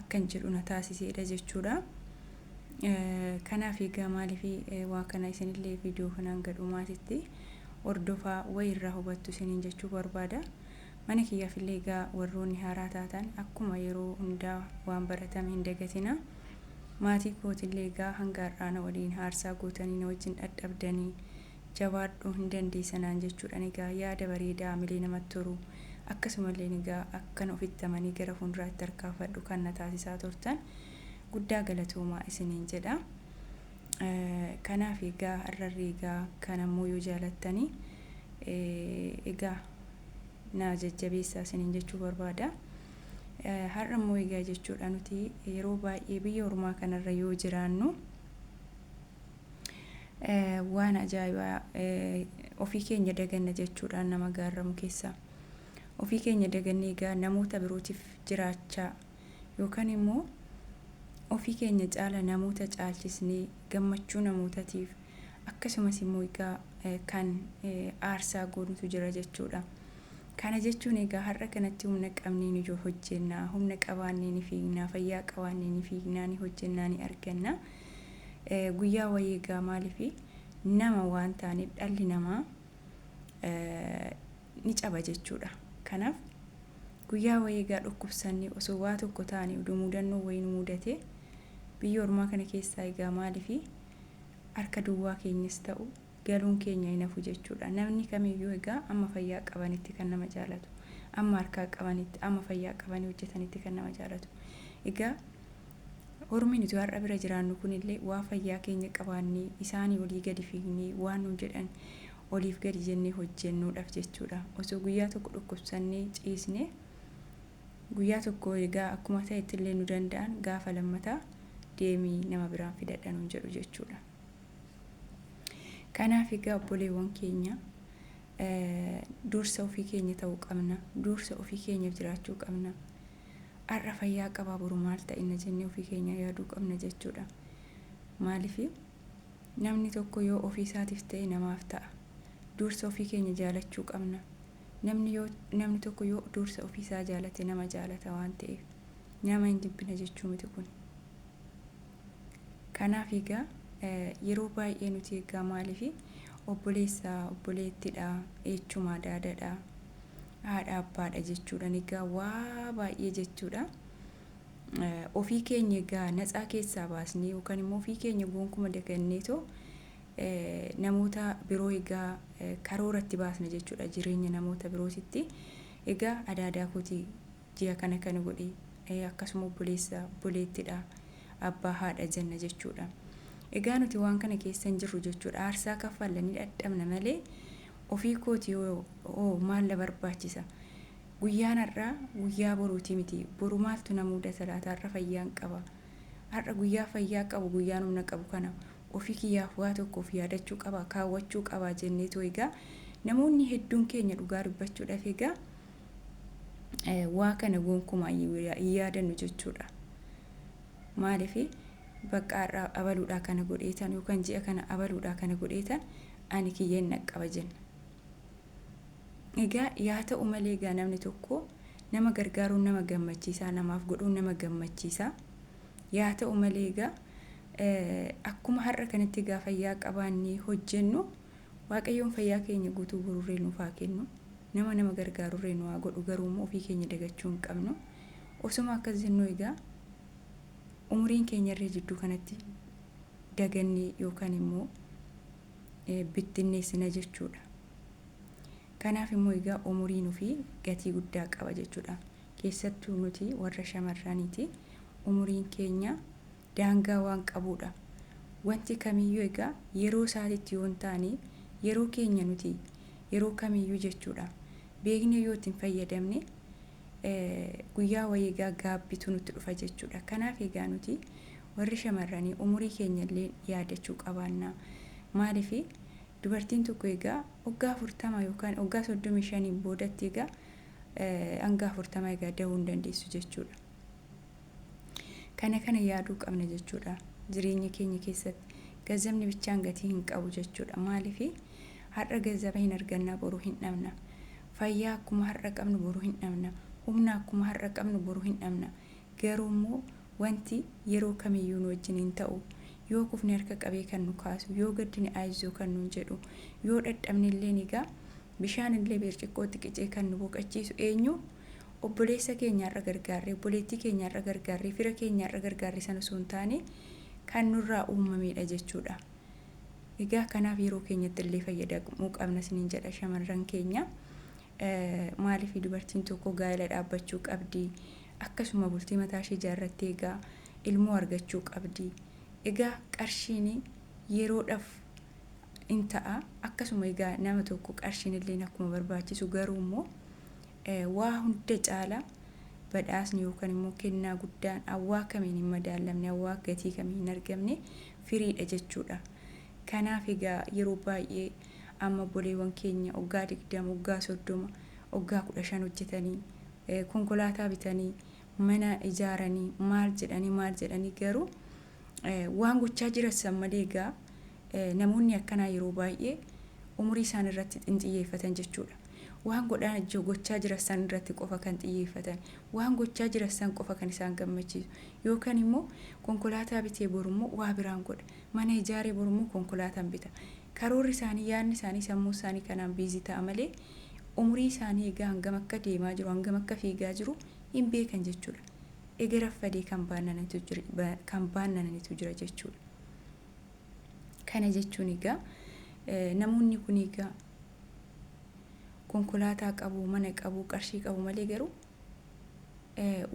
akkan jedhu na taasiseedha jechuudha. Kanaaf egaa maaliif waa kana isinillee viidiyoo kanaan gadhumaatitti hordofaa wayi irraa hubattu isiniin jechuu barbaada. Mana kiyyaaf illee egaa warroonni haaraa taatan akkuma yeroo hundaa waan baratame hin dagatina. Maatii kootillee egaa hanga har'aa na waliin haarsaa gootanii na wajjin dhadhabdanii jabaadhu hin dandeessa naan jechuudhan egaa yaada bareedaa hamilee namatti horu akkasumalleen egaa akkan ofitti amanee gara fuunduraatti tarkaanfadhu kan na taasisaa turtan guddaa galatoomaa isiniin jedha kanaaf egaa har'arri egaa kan ammoo yoo jaalattanii egaa na jajjabeessaa isiniin jechuu barbaada har'a immoo egaa jechuudha nuti yeroo baay'ee biyya ormaa kanarra yoo jiraannu waan ajaa'ibaa ofii keenya daganna jechuudhaan nama gaarramu keessaa ofii keenya dagannee egaa namoota birootiif jiraachaa yookaan immoo ofii keenya caala namoota caalchisnee gammachuu namootatiif akkasumas immoo egaa kan aarsaa goonutu jira jechuudha. Kana jechuun egaa har'a kanatti humna qabneen ijoo hojjennaa, humna qabaannee ni fiignaa, fayyaa qabaannee ni fiignaa, ni hojjennaa, ni argannaa. Guyyaa wayii egaa maaliif nama waan taaneef dhalli namaa ni caba jechuudha. Kanaaf guyyaa wayii egaa dhukkubsannee osoo waa tokko taane oduu mudannoo wayii nu mudate biyya ormaa kana keessaa egaa maaliif harka duwwaa keenyas ta'u galuun keenya hin hafu jechuudha. Namni kamiyyuu egaa amma fayyaa qabanitti kan nama jaalatu, amma harkaa qabanitti, amma fayyaa qabanii hojjetanitti kan nama jaalatu. Egaa ormi nuti har'a bira jiraannu kunillee waa fayyaa keenya qabaannee isaanii olii gadi fiignee waan nuun jedhan oliif gadi jennee hojjennuudhaaf jechuudha. Osoo guyyaa tokko dhukkubsannee ciisne guyyaa tokko egaa akkuma ta'etti illee nu danda'an gaafa lammataa deemii nama biraan fidadha nuun jedhu jechuudha. Kanaaf egaa obboleewwan keenya dursa ofii keenya ta'uu qabna. Dursa ofii keenyaaf jiraachuu qabna. Har'a fayyaa qabaa boru maal ta'inna jennee ofii keenya yaaduu qabna jechuudha. Maaliif namni tokko yoo ofii isaatiif ta'e namaaf ta'a. Dursa ofii keenya jaalachuu qabna. Namni yoo namni tokko yoo dursa ofii isaa jaalate nama jaalata waan ta'eef nama hin jibbina jechuu miti kun. Kanaaf egaa yeroo baay'ee nuti egaa maaliif obboleessa obboleettidha, eechumaa daadadha, haadha abbaadha jechuudhaan egaa waa baay'ee jechuudha. Ofii keenya egaa natsaa keessaa baasnee yookaan immoo ofii keenya goonkuma dagannee too namoota biroo egaa karooratti baasna jechuudha jireenya namoota birootitti. Egaa adaadaa kooti Ji'a kana kana godhi, akkasuma obboleessa, obboleettidha, abbaa, haadha jenna jechuudha. Egaa nuti waan kana keessa hin jirru jechuudha. Aarsaa kaffalla ni dhadhabna malee ofii kooti hoo maal na barbaachisa? Guyyaan har'aa guyyaa boruuti miti. Boru maaltu na muudata laata? Har'a fayyaan qaba. Har'a guyyaa fayyaa qabu, guyyaan humna qabu kana ofii kiyyaaf waa tokko of yaadachuu qaba, kaawwachuu qaba jenneetu egaa namoonni hedduun keenya dhugaa dubbachuudhaaf egaa waa kana gonkumaa hin yaadannu jechuudha. Maaliif bakka har'a abaluudhaa kana godheetan yookaan ji'a kana abaluudhaa kana godheetan ani kiyya hin dhaqqaba jenna. Egaa yaa ta'u malee egaa namni tokko nama gargaaruun nama gammachiisaa namaaf godhuun nama gammachiisaa yaa ta'u malee egaa akkuma har'a kanatti egaa fayyaa qabaannee hojjennu waaqayyoon fayyaa keenya guutuu guruurree nuuf haa kennu. Nama nama gargaarurree nu haa godhu garuu immoo ofii keenya dagachuu hin qabnu. Osoma akkas jennuu egaa umuriin keenyarree jidduu kanatti daganne yookaan immoo bittinneessina jechuudha. Kanaaf immoo egaa umuriin ofii gatii guddaa qaba jechuudha. Keessattuu nuti warra shamarraniiti umuriin keenya daangaa waan qabuudha. Wanti kamiyyuu egaa yeroo isaatitti yoo hin taane yeroo keenya nuti yeroo kamiyyuu jechuudha beeknee yoo itti hin fayyadamne guyyaa wayii egaa gaabbitu nutti dhufa jechuudha. Kanaaf egaa nuti warri shamarranii umurii keenya illee yaadachuu qabaanna. Maaliif dubartiin tokko egaa waggaa afurtama yookaan waggaa soddomii shaniin boodatti egaa hanga afurtama egaa dahuu hin dandeessu jechuudha. Kana kana yaaduu qabna jechuudha. Jireenya keenya keessatti gazzabni bichaan gatii hin qabu jechuudha. Maaliif har'a gazzaba hin argannaa boruu hin dhabna. Fayyaa akkuma har'a qabnu boruu hin dhabna. Humna akkuma har'a qabnu boruu hin dhabna. Garuu immoo wanti yeroo kamiyyuu nu wajjin hin ta'u. Yoo kufne harka qabee kan nu kaasu, yoo gaddine ayizzoo kan nuun jedhu, yoo dhadhabne illee egaa bishaan illee birciqqootti qicee kan nu boqachiisu eenyu? obboleessa keenya har'a gargaarre, obboleettii keenya har'a gargaarre, fira keenya har'a gargaarre sana osoo hin taane kan nurraa uumameedha jechuudha. Egaa kanaaf yeroo keenyatti illee fayyadamuu qabna isiniin jedha shamarran keenya. Maaliif dubartiin tokko gaa'ela dhaabbachuu qabdi? Akkasuma bultii mataa ishee ijaarrattee egaa ilmoo argachuu qabdi. Egaa qarshiin yeroodhaaf in ta'a. Akkasuma egaa nama tokko qarshiin illee akkuma barbaachisu garuu immoo Waa hunda caala badhaasni yookan immoo kennaa guddaan awwaa kamiin hin madaallamne, awwaa gatii kamiin hin argamne firiidha jechuudha. Kanaaf egaa yeroo baay'ee amma obboleewwan keenya oggaa 20, oggaa 30, oggaa 15 hojjetanii, konkolaataa bitanii, mana ijaaranii, maal jedhanii maal jedhanii garuu waan gochaa jiran san malee egaa namoonni akkanaa yeroo baay'ee umurii isaan irratti hin xiyyeeffatan jechuudha. Waan godhaa ji gochaa jiran san irratti qofa kan xiyyeeffatan, waan gochaa jiran san qofa kan isaan gammachiisu. Yookan immoo konkolaataa bitee boru immoo waa biraan godha. Mana ijaaree boru immoo konkolaatan bita. Karoorri isaanii, yaadni isaanii, sammuun isaanii kanaan busy ta'a malee umurii isaanii egaa hangam akka deemaa jiru, hangam akka fiigaa jiru hin beekan jechuudha. Ega raffadee kan baannananitu jir, ba, kan baannananitu jira jechuudha. Kana jechuun egaa eh, namoonni kun egaa konkolaataa qabu, mana qabu, qarshii qabu malee garuu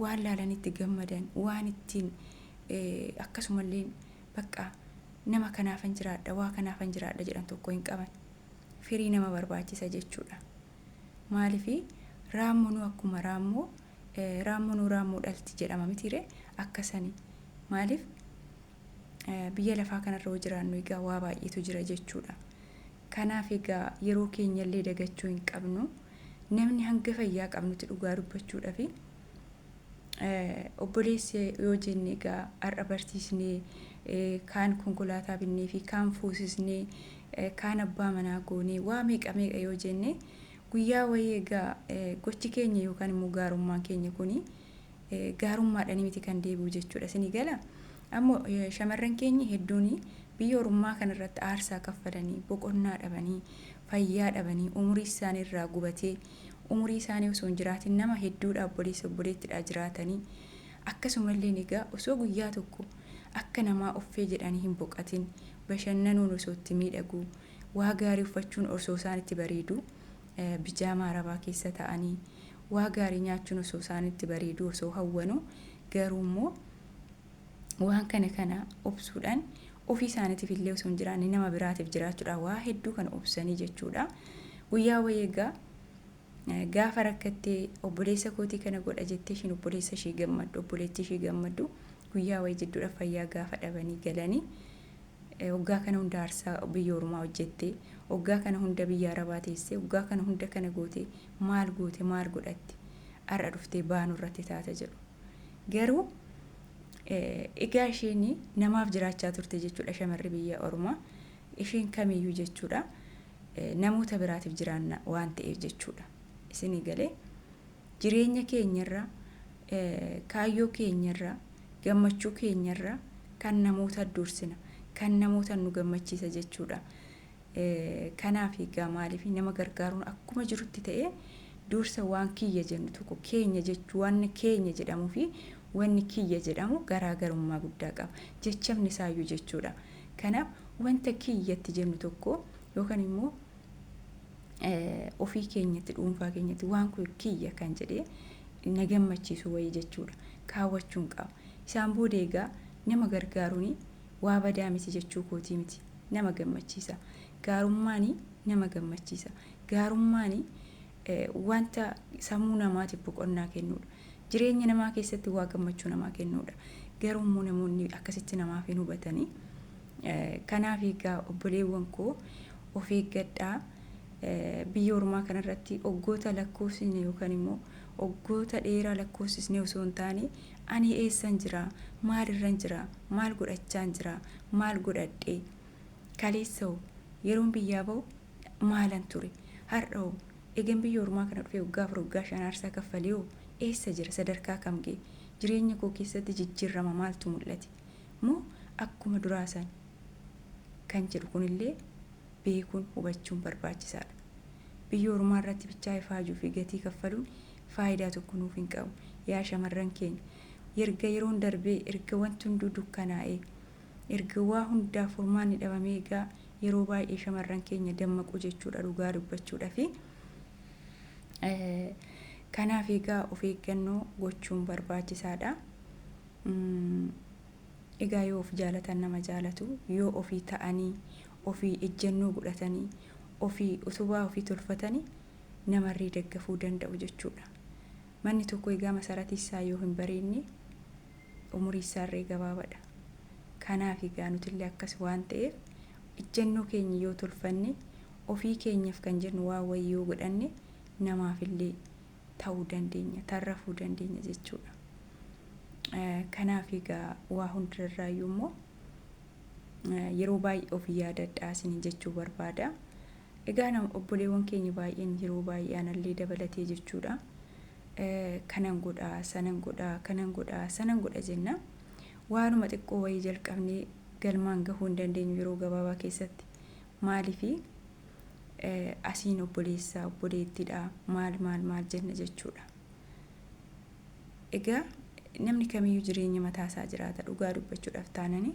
waan laalanitti gammadan, waan ittiin akkasumallee bakka nama kanaafan jiraadha, waa kanaafan jiraadha jedhan tokko hin qaban. Firii nama barbaachisa jechuudha. Maaliif raammoonuu akkuma raammoo raammoonuu raammoo dhalti jedhama mitiire akkasani. Maaliif Biyya lafaa kanarra yoo jiraannu egaa waa baay'eetu jira jechuudha. Kanaaf egaa yeroo keenyallee dagachuu hin qabnu. Namni hanga fayyaa qabnutti dhugaa dubbachuudhaaf obboleessi yoo jenne egaa har'a barsiisnee kaan konkolaataa binnee fi kaan fuusisnee kaan abbaa manaa goonee waa meeqa meeqa yoo jenne guyyaa wayii egaa gochi keenya yookaan immoo gaarummaan keenya kuni gaarummaadhani miti kan deebi'u jechuudha isinii gala ammo shamarran keenyi hedduun biyya orummaa kana irratti aarsaa kaffalanii boqonnaa dhabanii fayyaa dhabanii umurii isaanii irraa gubatee umurii isaanii osoo hin jiraatin nama hedduudha obboleessa obboleettidhaa jiraatanii akkasumalleen egaa osoo guyyaa tokko akka namaa uffee jedhanii hin boqatin bashannanuun osoo itti miidhaguu waa gaarii uffachuun osoo isaan itti bareeduu bijaamaa Arabaa keessa ta'anii waa gaarii nyaachuun osoo isaanitti bareeduu osoo hawwanuu garuu immoo waan kana kana obsuudhaan ofii isaaniitiif illee osoo hin jiraanne nama biraatiif jiraachuudhaan waa hedduu kana obsanii jechuudha. Guyyaa wayii egaa gaafa rakkattee obboleessa kootii kana godha jettee ishiin obboleessa ishii gammaddu obboleettii ishii gammaddu guyyaa wayii jidduudha fayyaa gaafa dhabanii galanii Oggaa kana hunda aarsaa biyya ormaa hojjettee, oggaa kana hunda biyya arabaa teessee, oggaa kana hunda kana gootee maal goote maal godhatte har'a dhuftee ba'aa nurratti taata jedhu. Garuu egaa isheen namaaf jiraachaa turte jechuudha shamarri biyya ormaa isheen kamiyyuu jechuudha namoota biraatiif jiraanna waan ta'eef jechuudha. Isinii galee jireenya keenyarra, kaayyoo keenyarra, gammachuu keenyarra kan namoota dursina. Kan namoota nu gammachiisa jechuudha. Kanaaf egaa maaliif nama gargaaruun akkuma jirutti ta'ee dursa waan kiyya jennu tokko keenya jechuu waan keenya jedhamuu fi wanni kiyya jedhamu garaagarummaa guddaa qaba. Jechamni isaayyuu jechuudha. Kanaaf wanta kiyyatti jennu tokko yookaan immoo ofii keenyatti dhuunfaa keenyatti waan kun kiyya kan jedhee na gammachiisu wayii jechuudha kaawwachuun qaba isaan booda egaa nama gargaaruun waa badaa miti jechuu kootii miti nama gammachiisa gaarummaan nama gammachiisa gaarummaan wanta sammuu namaatiif boqonnaa kennuudha jireenya namaa keessatti waa gammachuu namaa kennuudha garuu immoo namoonni akkasitti namaaf hin hubatanii Kanaaf egaa obboleewwan koo of eeggadhaa. Biyya ormaa kanarratti oggoota lakkoofsisne yookaan immoo oggoota dheeraa lakkoofsisne osoo hin taane ani eessan jira, maal irran jira, maal godhachaan jira, maal godhadhe, kaleessa hoo yeroon biyyaa ba'u maalan ture, har'a hoo egan biyya ormaa kana dhufee waggaa afur waggaa shan aarsaa kaffalee hoo eessa jira, sadarkaa kam ga'e, jireenya koo keessatti jijjiirrama maaltu mul'ate, moo akkuma duraa san kan jedhu kunillee beekuun hubachuun barbaachisaadha. Biyya ormaa irratti bichaa ifaajuu fi gatii kaffaluun faayidaa tokko nuuf hin qabu. Yaa shamarran keenya! Erga yeroon darbee, erga wanti hunduu dukkanaa'ee, erga waa hundaaf furmaanni dhabamee egaa yeroo baay'ee shamarran keenya dammaqu jechuudha dhugaa dubbachuudhafi. Kanaaf egaa of eeggannoo gochuun barbaachisaadha. Umm egaa yoo of jaalatan nama jaalatu yoo ofii ta'anii ofii ejjennoo godhatanii ofii utubaa ofii tolfatani namarrii daggafuu danda'u jechuudha. Manni tokko egaa masaratii isaa yoo hin bareedne umurii isaarree gabaabadha. Kanaaf egaa nutillee akkas waan ta'eef ejjennoo keenya yoo tolfanne ofii keenyaf kan jennu waa wayii yoo godhanne namaafillee ta'uu dandeenya, tarrafuu dandeenya jechuudha. Kanaaf egaa waa hundarraayyuu immoo yeroo baay'ee of yaadadhaa isiniin jechuu barbaada. Egaa nama obboleewwan keenya baay'een yeroo baay'ee anallee dabalatee jechuudha. Kanan godha, sanan godha, kanan godha, sanan godha jenna. Waanuma xiqqoo wayii jalqabnee galmaan gahuu hin dandeenyu yeroo gabaabaa keessatti. Maaliifi? asiin obboleessa obboleettidha maal maal maal jenna jechuudha. Egaa namni kamiyyuu jireenya mataa isaa jiraata dhugaa dubbachuudhaaf taanani.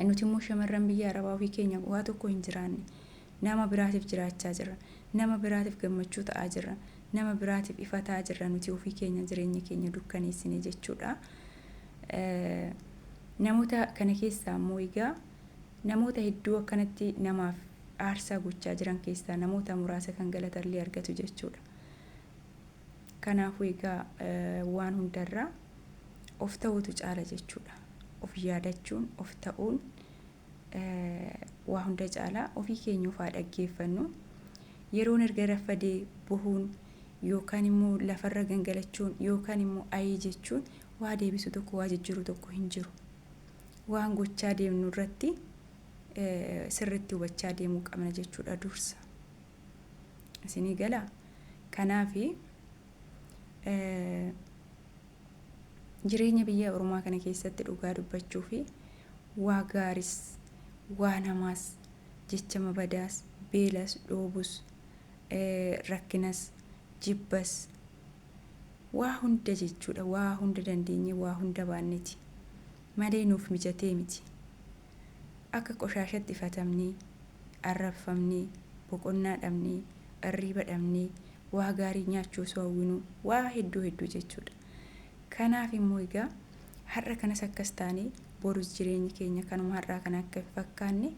Nuti immoo shamarran biyya arabaa ofii keenya waa tokko hin jiraanne nama biraatiif jiraachaa jirra nama biraatiif gammachuu ta'aa jirra nama biraatiif ifataa jirra nuti ofii keenya jireenya keenya dukkaneessine jechuudha. Namoota kana keessaa immoo egaa Namoota hedduu akkanatti namaaf aarsaa gochaa jiran keessaa namoota muraasa kan galatallee argatu jechuudha. Kanaafuu egaa waan hundarraa of ta'uutu caala jechuudha. Of yaadachuun, of ta'uun waa hunda caalaa ofii keenya ofaa dhaggeeffannu. Yeroon erga raffadee bohuun yookaan immoo lafarra gangalachuun yookaan immoo ayii jechuun waa deebisu tokko waa jijjiiru tokko hin jiru. waan gochaa deemnu irratti sirritti hubachaa deemuu qabna jechuudha dursa. Isinii gala. Kanaaf jireenya biyya ormaa kana keessatti dhugaa dubbachuu fi waa gaaris waa namaas jecha mabadaas beelas dhoobus rakkinas jibbas Waa hunda jechuudha waa hunda dandeenyee waa hunda baanneti malee nuuf mijatee miti. Akka qoshaashatti ifatamnee, arrabfamnee, boqonnaa dhabnee, irriiba dhabnee, waa gaarii nyaachuu osoo hawwinuu waa hedduu hedduu jechuudha. Kanaaf immoo egaa har'a kanas akkas taanee borus jireenyi keenya kanuma har'aa kana akka hin fakkaanne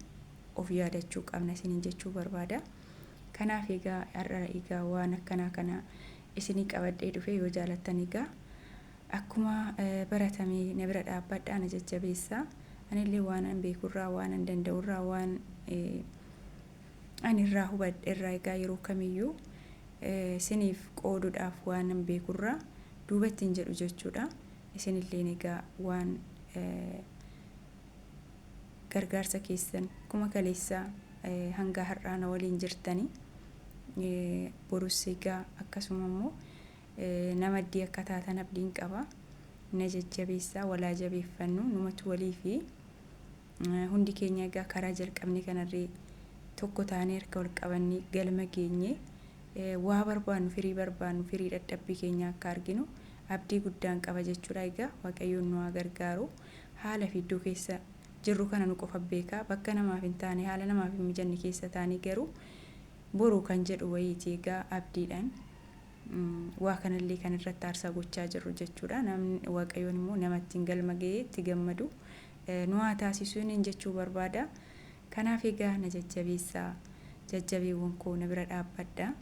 of yaadachuu qabna isiniin jechuu barbaada. Kanaaf egaa har'a egaa waan akkanaa kana isinii qabadhee dhufee yoo jaalattan egaa akkuma baratame na bira dhaabbadhaa na jajjabeessaa. Anillee waanan beekurraa waanan danda'urraa waan ani irraa hubadhe irraa egaa yeroo kamiyyuu isiniif qooduudhaaf waanan beekurraa duubatti hin jedhu jechuudha. Isinilleen egaa waan gargaarsa keessan akkuma kaleessaa hanga har'aa na waliin jirtanii borus egaa akkasuma immoo nama iddii akka taatan abdiin qaba na jajjabeessaa walaa jabeeffannu numatu walii fi hundi keenya egaa karaa jalqabne kanarree tokko taanee harka wal qabannee galma geenye waa barbaannu firii barbaannu firii dhadhabbii keenya akka arginu abdii guddaan qaba jechuudha egaa waaqayyoon nu haa gargaaru. haala fi iddoo keessa jirru kana nu qofa beeka. Bakka namaaf hin taane, haala namaaf hin mijanne keessa taanee garuu boru kan jedhu wayiiti egaa abdiidhaan waa kanallee kan irratti aarsaa gochaa jirru jechuudha. Namni Waaqayyoon immoo nama ittiin galma ga'ee itti gammadu nu haa taasisu niin jechuu barbaada. Kanaaf egaa na jajjabeessaa jajjabeewwan koo na bira dhaabbadha.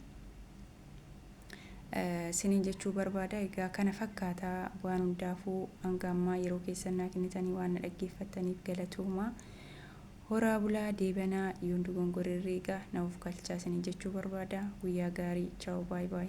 sinin jechuu barbaada. Egaa kana fakkaata waan hundaafuu hanga ammaa yeroo keessan naa kennitanii waan na dhaggeeffattaniif galatoomaa. Horaa bulaa deebanaa yoon dogongorerree egaa na of galchaa sinin jechuu barbaada. Guyyaa gaarii. Chaaw baay baay.